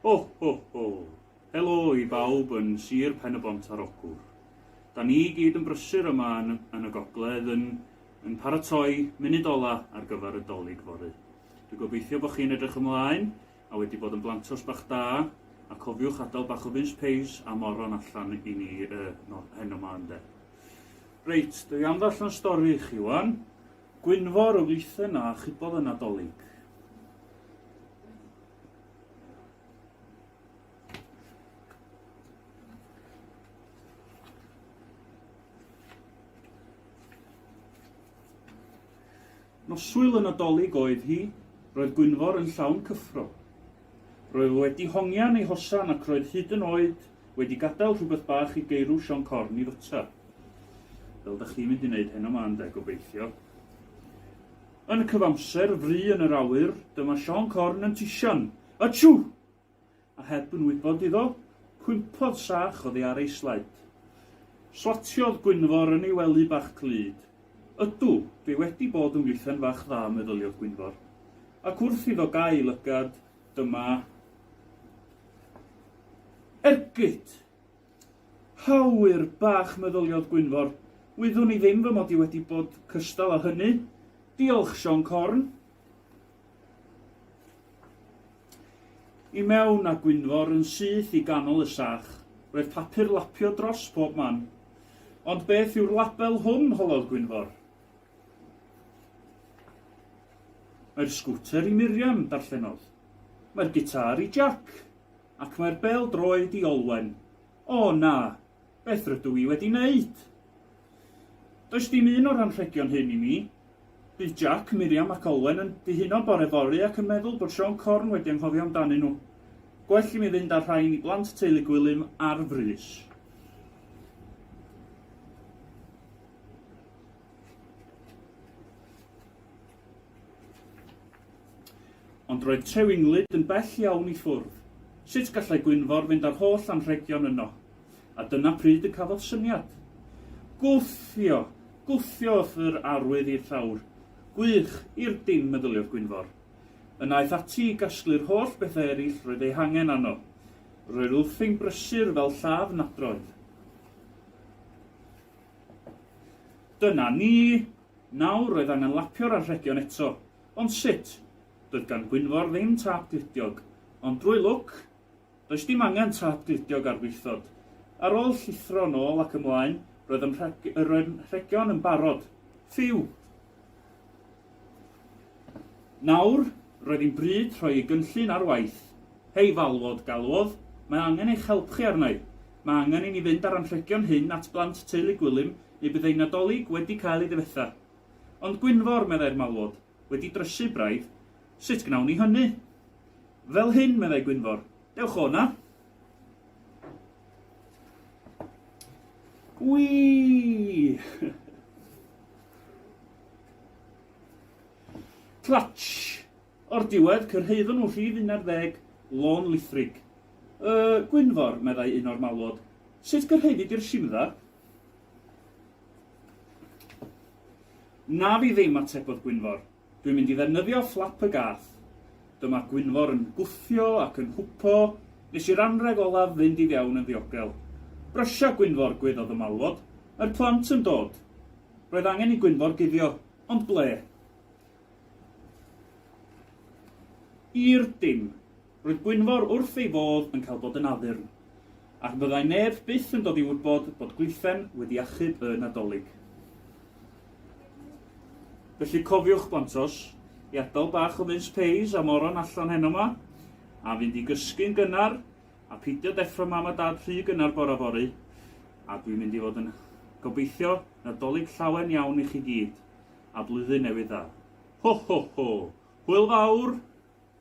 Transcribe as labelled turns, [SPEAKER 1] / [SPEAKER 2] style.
[SPEAKER 1] Ho ho ho! Helo i bawb yn Sir Pen-y-bont ar Ogwr. Da ni i gyd yn brysur yma yn, yn y gogledd yn, yn paratoi munud ola ar gyfer y Dolig fory. Dwi gobeithio bod chi'n edrych ymlaen a wedi bod yn blantos bach da, a cofiwch adal bach o mince peis a moron allan i ni yy no, heno ma ynde. Reit, dwi am ddarllen stori i chi wan. Gwynfor o Wlithen a chybodd y Nadolig. Nos Sul y Nadolig oedd hi, roedd Gwynfor yn llawn cyffro. Roedd wedi hongian ei hosan ac roedd hyd yn oed wedi gadael rhywbeth bach i geirw Sion Corn i fwyta. Fel da chi'n mynd i wneud heno ma ynde, gobeithio. Yn y cyfamser, fry yn yr awyr, dyma Sion Corn yn tision. Atsŵ! a heb yn wybod iddo, cwympodd sach oddi ar ei sled. Slatiodd Gwynfor yn ei wely bach clyd. Ydw, dwi wedi bod yn wythen fach dda, meddyliodd Gwynfor. Ac wrth iddo gael lygad, dyma ergyd! Hawyr bach, meddyliodd Gwynfor, wyddwn i ddim fy mod i wedi bod cystal â hynny. Diolch, Sion Corn. I mewn, a Gwynfor yn syth i ganol y sach. Roedd papur lapio dros pob man. Ond beth yw'r label hwn, holodd Gwynfor. Mae'r sgwter i Miriam, darllenodd. Mae'r gitâr i Jac. Ac mae'r bêl-droed i Olwen. O, na! Beth rydw i wedi wneud? Does dim un o'r anrhegion hyn i mi. Bydd Jac, Miriam ac Olwen yn dihuno bore fory ac yn meddwl bod Siôn Corn wedi anghofio amdanyn nhw. Gwell i mi fynd â'r rhain i blant teulu Gwilym ar frys. Ond roedd Trewinglyd yn bell iawn i ffwrdd. Sut gallai Gwynfor fynd â'r holl anrhegion yno? A dyna pryd y cafodd syniad. Gwthio! Gwthio wrth yr arwydd i'r llawr. Gwych! I'r dim, meddyliodd Gwynfor. Yna aeth ati i gasglu'r holl bethau eraill roedd eu hangen arno. Roedd wrthi'n brysur fel lladd nadroedd. Dyna ni! Nawr roedd angen lapio'r anrhegion eto. Ond sut? Doedd gan Gwynfor ddim tâp glidiog. Ond drwy lwc, Does dim angen tâp gludiog ar wlithod. Ar ôl llithro yn ôl ac ymlaen, roedd ym roedd rhegion yn barod. Ffîw! Nawr, roedd hi'n bryd rhoi y gynllun ar waith. Hei falwod, galwod, mae angen eich help chi arna i. Mae angen i ni fynd â'r anrhegion hyn at blant teulu Gwilym neu bydd eu Nadolig wedi cael ei ddifetha. Ond Gwynfor, meddai'r malwod, wedi drysu braidd, sut gnawn ni hynny? Fel hyn, meddai Gwynfor. Dewch o 'na! Wii! Clatsh! O'r diwedd, cyrhaeddon nhw rhif 11, Lôn Lithrig. Yy, Gwynfor, meddai un o'r malwod, sut gyrhaeddi di'r Shimdda? Na fi ddim, atebodd Gwynfor. Dwi'n mynd i ddefnyddio fflap y gath. Dyma Gwynfor yn gwthio ac yn hwpo, nes i'r anrheg olaf fynd i fewn yn ddiogel. Brysia Gwynfor gweiddodd y malwod. Mae'r plant yn dod! Roedd angen i Gwynfor guddio, ond ble? I'r dim. Roedd Gwynfor wrth ei fodd yn cael bod yn addurn, ac byddai neb byth yn dod i wybod bod Gwythaen wedi achub y Nadolig. Felly cofiwch, blantos, i adael bach o mince pies a moron allan heno 'ma, a fynd i gysgu'n gynnar, a peidio deffro Mam a Dad rhy gynnar bore fory, a dwi'n mynd i fod yn gobeithio Nadolig llawen iawn i chi gyd, a Blwyddyn Newydd Dda. Ho, ho, ho! Hwyl fawr!